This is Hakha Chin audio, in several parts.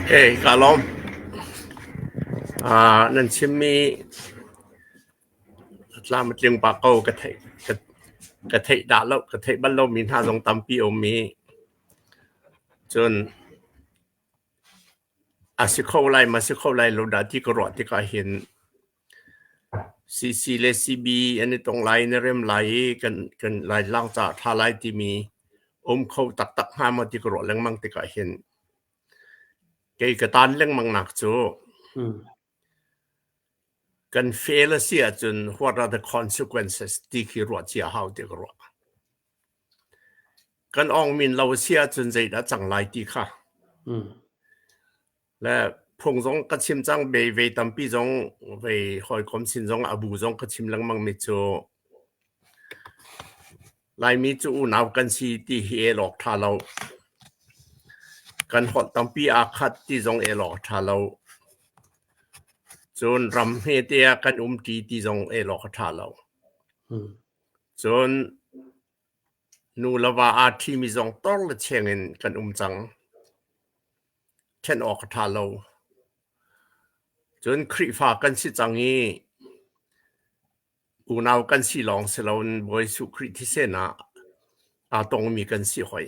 Hei kaa lawm. Aa nan chimmi a tlam a tling pah ko. Ka theih, ka- ka theih dah lo, ka theih bal lomi hna zong tampi a um i, cun a si kho lai, ma si kho lai lo dah ti ka ruah tikah hin CC le CB an i tong lai na rem lai i kan Laitlang caah ṭha lai timi um kho taktak hnga maw ti ka ruah lengmang tikah hin kei ka taan lengmangnak cu kan fail a si ahcun what are the consequences ti khi ruah cia hau ti ka ruah. Kan awng min lo a si ahcun zeidah a cang lai ti kha le phung zong ka chim cang bei vei tampi zong vei hawikom sin zong a bu zong ka chim lengmang mi cu Laimi cu unau kan si ti hi elawk ṭha lo. Kan holh tampi aa khat ti zong elawk ṭha lo. Cun ram hmete ah kan um ṭi ti zong elawk a ṭha lo. Cun nu le va aa ṭhimi zong tawr le cheng in kan um cang. Ṭhenh awk a ṭha lo. Cun Khrihfa kan si cang i unau kan si lawng si loin Bawi Jesuh Khrih thisenah aa tongmi kan si hoi.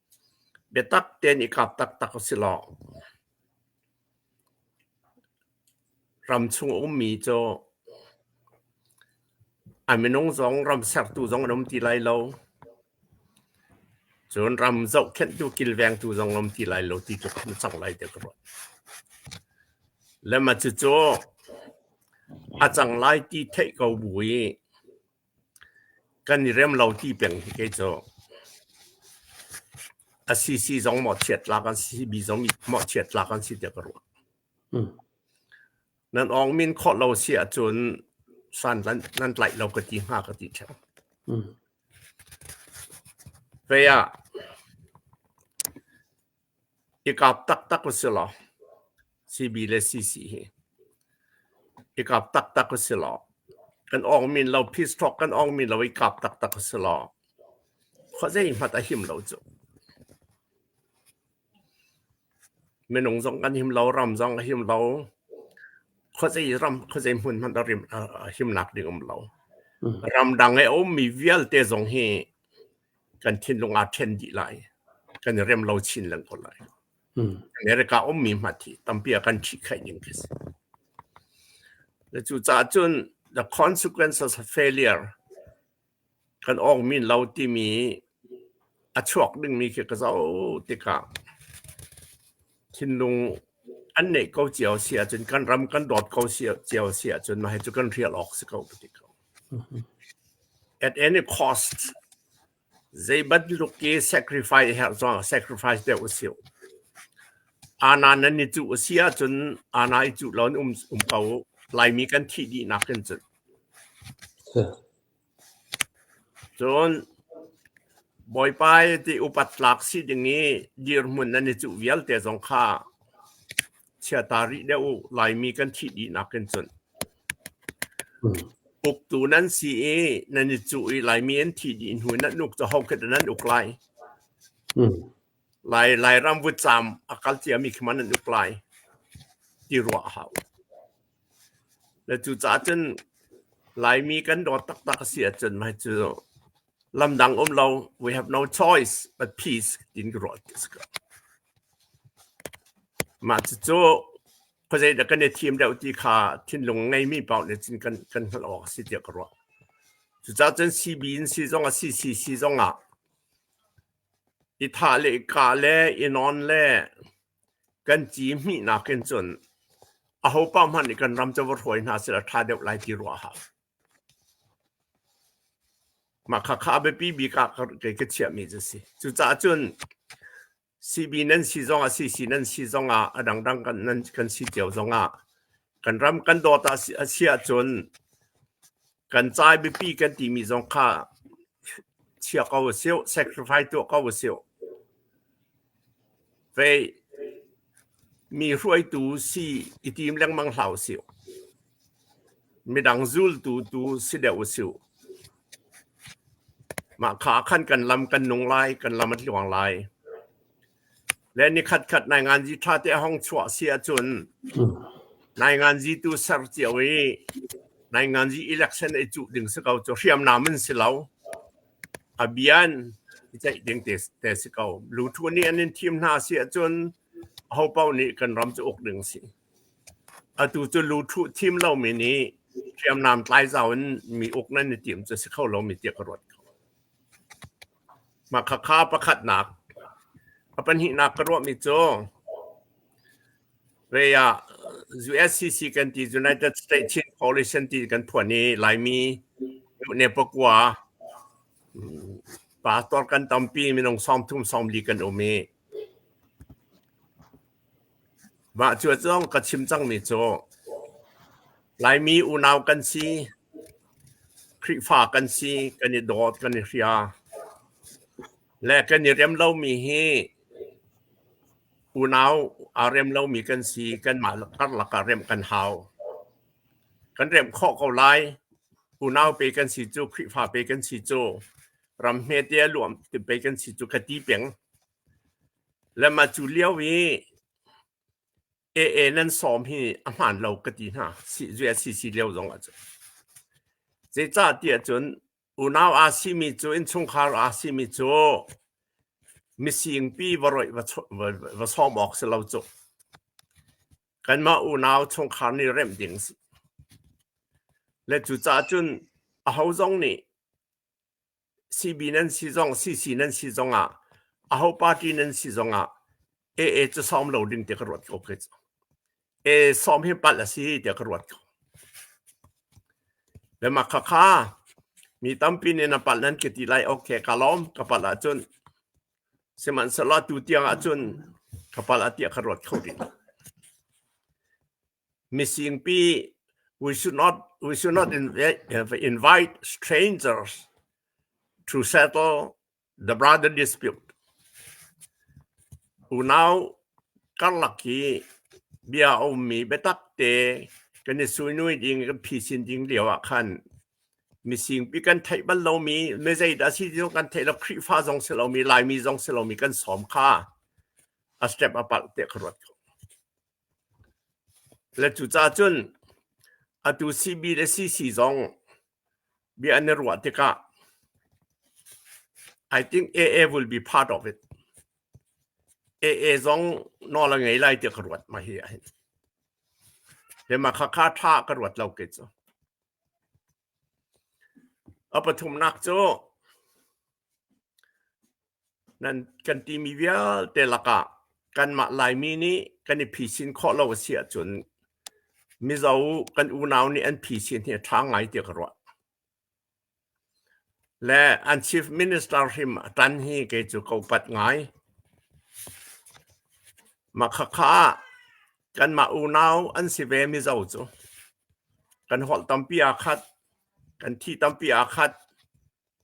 Biatak tein i kap taktak usilaw, ram chung a ummi cu a minung zong ram sertu zong an um ti lai lo. Cun ram zohkhenhtu kilvengtu zong a um ti lai lo ti cu kan cang lai tiah ka ruah. Le ma cucu a cang lai ti theih ko bu i, Kan i rem lo ti peng hi kei cu a si si zong maw chiatlak an si, mi zong nih maw chiatlak an si tiah ka ruah. Nan awng min khawh lo si ahcun saan nan, nan tlaih lo ka ti hnga ka ti theo. Vei ah I kap taktak a si law, CB le CC hi i kap taktak a si law, kan awng min lo, piece thawk kan awng min lo i kap taktak a si law, khua zeihmanh a him lo cu. Minung zong kan him lo, ram zong a him lo. Khua zei ram, khua zei hmun hmanh a rim, a, a himnak ding um lo. Ram dang i a ummi vialte zong hi kan thinlung aa ṭhen dih lai. Kan i rem lo chin leng ko lai. America ummi hmat hi tampi a kan ṭhihkhaih ning khi a si. Cucaah cun the consequences of failure kan awng min lo timi a chuak dingmi khi ka zoh tikah thinlung an neih ko cio a si ahcun kan ram kan dawt ko cio cio a si ahcun mah hi cu kan rial awk si ko ka ti ko. At any cost zei bantuk i sacrifice a herh zong ah sacrifice deuh a si. Ana nan i cuh a si ahcun ana i cuh lo in um um ko. Laimi kan thih dihnak in cun. Cun Bawipa i ti upat tlak si ding i dirhmun nan i cuh vialte zong kha Chia ta rih deuh u, Laimi kan thih dihnak kan cuanh. Uktu nan si i nan i cuh i Laimi an thih dih hnu in nan uk cu hokhel in an uk lai. Lai Lairam vutcaam a kal ciami khi ma nan uk lai? ti ruah a hau. Le cucaah cun Laimi kan dawt taktak a si ahcun mah hi cu lam dang um lo we have no choice but peace tiin ka ruah a si ko. Mah cucu khuazei dah kan i thim deuh ti kha thinlung ngeimi paoh nih cun kan, kan hngalh awk a si tiah ka ruah. Cucaah cun CB in si zong ah CCC zong ah i thah le i kah le i nawn le Kan ci hmihnak in cun ahopa hmanh nih kan ram covo hruai hna sehla ṭha deuh lai ti ruahah mah khakha a biapi bik ah kei ka chiahmi cu a si. Cucaah cun sibi nan si zongah, sisi nan si zongah, a dangdang kan nan kan si cio zongah kan ram kan dawt a si ahcun Kan cai biapi kan timi zong kha chia ko a sih, sacrifice tuah ko a sih. Vei mi hruaitu si i tim lengmang hlah u sih. Midang zultu tu si deuh u sih. Mah kha khan kan lam kan nung lai, kan lam a tluang lai. Le ni khatkhat nainganzi ṭha te a hong chuah a si ahcun nainganzi tu ser cio i nainganzi election ei cuh ding si ko cu hriamnam in si lo. A bia in i ceih ding te, te si ko. Luṭhu nih an in thim hna a si ahcun ahopaoh nih kan ram cu uk ding a si. Atu cu luṭhu thim lomi nih hriamnam tlai zau in mi uk nan i tim cu si kho lomi tiah ka ruat kho. Mah khakha pakhatnak. A pahnihnak ka ruahmi cu rei ah USCC kan ti United States Chin Coalition ti kan phuan i Laimi ne pakua pa tuar kan tampi minung sawm thum sawm li kan um i Mah cu a cang ka chim cangmi cu Laimi unau kan si, Khrihfa kan si, kan i dawt, kan i hria le kan i rem lomi hi unau aa rem lomi kan si. Kanmah karlak ah remh kan hau. Kan remh khawh ko lai. Unau pe kan si cu, Khrihfa pe kan si cu, ram hmete a luam pei kan si cu ka ti peng. Le ma cu lio i AA nan sawm hi a hmaan lo ka ti hna zui a si si lio zong ah cu. Zeicahtiah cun unau aa simi cu, innchungkhar aa simi cu misingpi va roih va sawm awk si lo cu. Kanmah unau chungkhar nih remh ding a si. Le cucaah cun aho zong nih Sibi nan si zong CC nan si zongah aho party nan si zongah AA cu sawm lo ding ti ka ruat ko khi cu. AA sawm hi palh a si ti ka ruat ko. Lemak khakha mi tampi nih na palh nan ki ti lai ok ka lom ka palh ahcun sihmanhsehlaw tu tiang ahcun ka palh a tia ka ruat kho ding. Misingpi, we should not invite strangers to settle the brother dispute. Unau karlak hi bia a ummi biatak te kan i suinui ding, kan phisin ding lio ah khan misingpi kan theih bal lomi, mizei dah si ti kan theih lo, Khrihfa zong si lomi, Laimi zong si lomi kan sawm kha a step a palh tiah ka ruat ko. Le cucacun atu sihbit a si si zong bia an i ruah tikah I think AA will be part of it. AA zong nawl a ngei lai ti ka ruat ma hi ahhin. Lehma khakha ṭha ka ruat lo ke cu. A pathumnak cu nan kan timi vialte lakah kanmah Laimi nih kan i phisin khawh lo a si ahcun Mizo kan unau nih an phisin hi a ṭha ngai tiah ka ruah. Le an Chief Minister hrim a ṭan hi kei cu ka upat ngai. Mah khakha ah Kanmah unau an si ve Mizo cu. Kan holh tampi aa khat. Kan thi tampi aa khat.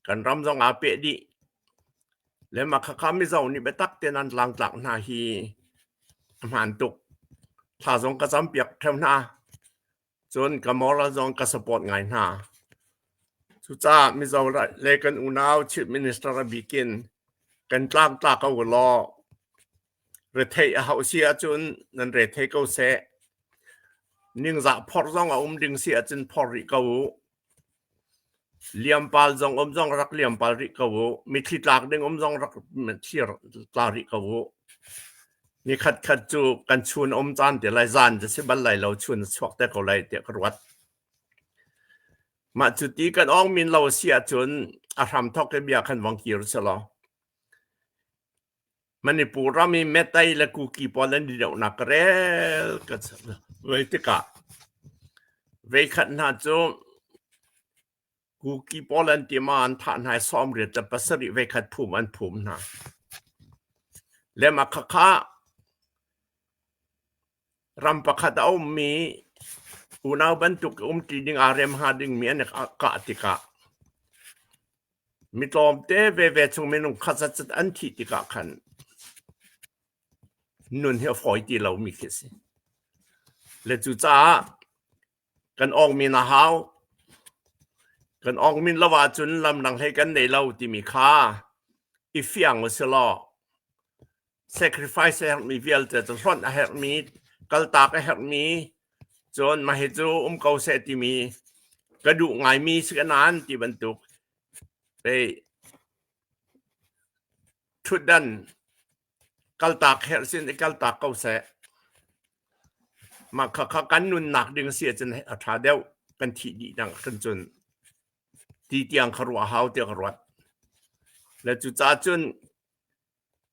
Kan ram zong aa peh dih. Le mah khakha Mizo nih biatak tein an tlangtlak hna hi a hmaan tuk. Thla zong ka campiak theo hna. Cun ka moral zong ka support ngai hna. Cucaah Mizo le kan unau Chief Minister a bik in kan tlangtla ko law retheih a hau si ahcun nan rethei ko seh. Ningzah phor zong a um ding si ahcun phor rih ko u. Liampal zong um zong rak liampal rih ko u. Mitthli tlak ding um zong rak mitthli tla rih ko u. Ni khatkhat cu kan chun a um caan te lai, zan cu si bal lai lo, chun a chuak te ko lai tiah ka ruat. Mah cu ti kan ong min lo a si ahcun a hramthok i bia kan vang kir selaw. Manipur ram i Mattei le Kuki pawl an i dohnak ka rel ka Voi tikah veikhat hna cu Kuki pawl an ti ma an thah hna i sawmriat le pasarih veikhat phum an phum hna. Le Makhakha Ram pakhat a ummi unau bantuk i umṭi ding aa rem hnga dingmi an i kah tikah mi tlawmte veve chung minung khat zatzat an thih tikah khan nun hi a fawi ti lomi khi a si. Le cucaah Kan awng men a hau. Kan awng men lo ahcun lamdang hlei kan nei lo timi kha i fiang usilaw sacrifice a herhmi vialte cu hlonh a herhmi, kaltak a herhmi, cun mah hi cu um ko seh timi ka duh ngaimi si ka nan ti bantuk pei ṭhutdan kaltak herh sin i kaltak ko seh. Mah khakha kan nunnak ding a si ahcun a ṭha deuh kan thih dih dang kan cun ti tiang kha ruah hau tiah ka ruat. Le cucaah cun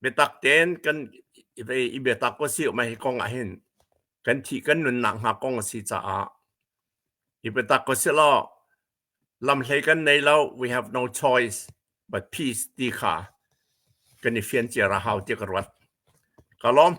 biatak tein kan i biatak ko si mai kong ah hin kan thih kan nunnak hnga kong a si caah i biatak ko si law Lam hlei kan nei lo. We have no choice but peace ti kha kan i fian cia rah hau tiah ka ruat. Ka lawm.